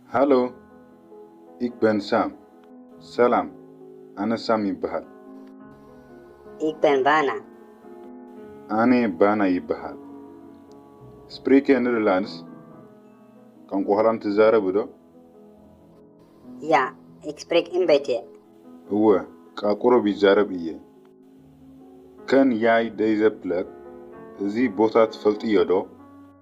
ሃሎ ኢክ በን ሳም። ሰላም ኣነ ሳም ይበሃል። ኢክ በን ባና። ኣነ ባና ይበሃል። ስፕሪከ ንደርላንድስ፣ ቋንቋ ሆላንድ ትዛረብ ዶ? ያ ኢክ ስፕሪክ ኢን በይትየ። እወ ቃ ቁሩብ ይዛረብ እየ። ከን ያይ ደይዘ ፕለክ፣ እዚ ቦታ ትፈልጥዮ ዶ?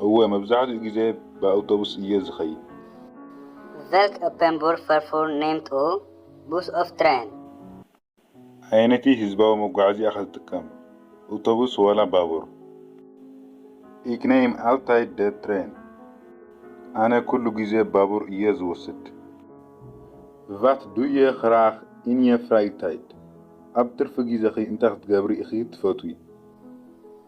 እወ፣ መብዛሕትኡ ግዜ ብኣውቶቡስ እየ ዝኸይድ። ቨልክ ኡፐን ቡር ፈርፉር ነምት ኡ ቡስ ኦፍ ትረን። ኣየነይቲ ህዝባዊ መጓዓዝያ ኢኻ ዝጥቀም፣ ኣውቶቡስ ዋላ ባቡር? ኢክ ነይም ኣልታይድ ደ ትረን። ኣነ ኩሉ ግዜ ባቡር እየ ዝወስድ። ቫት ዱ የ ኽራክ ኢን የ ፍራይታይድ? ኣብ ትርፊ ግዜኺ እንታይ ክትገብሪ ኢኺ ትፈትዊ?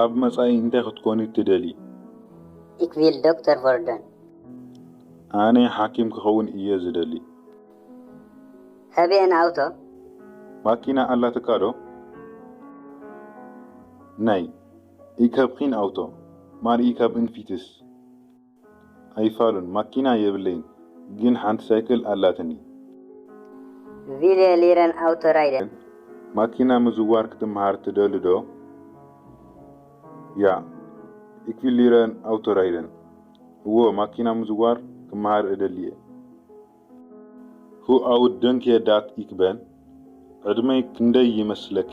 ኣብ መጻኢ እንታይ ክትኮኒ ትደልዪ? ኢክ ቪል ዶክተር ቨርደን። ኣነ ሓኪም ክኸውን እየ ዝደሊ። ሃበ ኤን ኣውቶ? ማኪና ኣላትካ ዶ? ናይ። ኢክ ሀብኪን ኣውቶ? ማር ኢክ ሀብን ፊትስ? ኣይፋሉን ማኪና የብለይን ግን ሓንቲ ሳይክል ኣላትኒ። ቪለ ሊረን ኣውቶ ራይደ። ማኪና ምዝዋር ክትመሃር ትደሊ ዶ? ያ ኢክ ቪል ሊረን ኣውቶ ራይደን። እዎ ማኪና ምዝዋር ክመሃር እደሊ እየ። ሁ ኣውት ደንክየ ዳት ኢክ በን። ዕድመይ ክንደይ ይመስለኪ?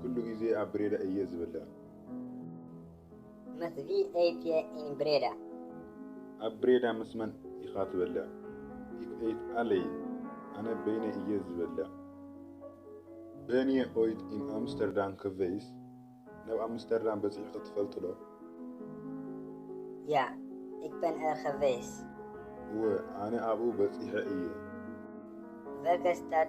ኩሉ ግዜ ኣብ ብሬዳ እየ ዝበልዕ። መስ ቪኣይፒ ኢን ብሬዳ። ኣብ ብሬዳ ምስ መን ኢኻ ትበልዕ? ኢክ ኤይት ኣለይን። ኣነ በይነይ እየ ዝበልዕ። በን የ ኦይት ኢን ኣምስተርዳም ከቨይስ። ናብ ኣምስተርዳም በጺሕኺ ትፈልጢ ዶ? ያ ኢክ በን ኣር ከቨይስ። እወ ኣነ ኣብኡ በጺሐ እየ። ቨልከ ስታድ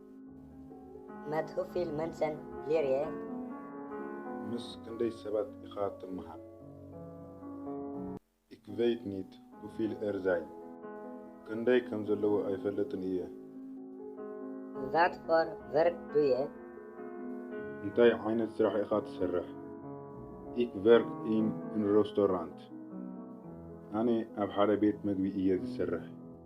መት ሁ ፊል መንሰን ሊርየ። ምስ ክንደይ ሰባት ኢኻ ትመሃር? ኢክ ቨይት ኒት ሁ ፊል ኤር ዛይ። ክንደይ ከም ዘለዎ ኣይፈልጥን እየ። ቫት ፎር ቨርክ ዱየ? እንታይ ዓይነት ስራሕ ኢኻ ትሰርሕ? ኢክ ቨርክ ኢን እን ሮስቶራንት። ኣነ ኣብ ሓደ ቤት መግቢ እየ ዝሰርሕ።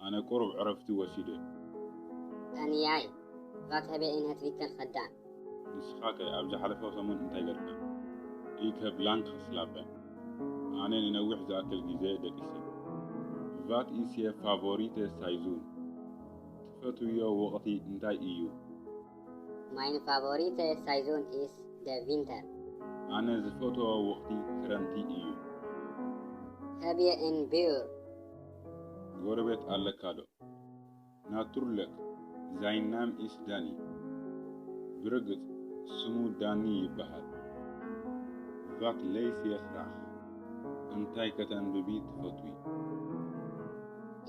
ኣነ ቁሩብ ዕረፍቲ ወሲደ። ኣንያይ ቫትሀቤ ኢን ሀት ቪከል ከዳን። ንስኻ ከ ኣብ ዝሓለፈ ሰሙን እንታይ ገርካ? ኢከ ብላንክ ክስላፐ? ኣነ ንነዊሕ ዝኣክል ግዜ ደቂሰ። ቫት ኢስ የር ፋቮሪተ ሳይዙን? ትፈትውዮ ወቕቲ እንታይ ኢዩ? ማይን ፋቮሪተ ሳይዙን ኢስ ደ ቪንተር። ኣነ ዝፈትዎ ወቕቲ ክረምቲ ኢዩ። ሀብየ ኢን ቢዩር? ጎረቤት ኣለካ ዶ ናቱርለክ ዛይን ናም ኢስ ዳኒ ብርግጽ ስሙ ዳኒ ይበሃል ቫት ለይስየ ክራክ እንታይ ከተንብቢ ትፈትዊ?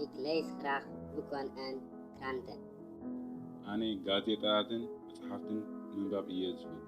ኢክ ለይስ ክራክ ቡኮን ኣን ክራንተን። ኣነ ጋዜጣታትን መጽሓፍትን ምንባብ እየ ዝፈቱ።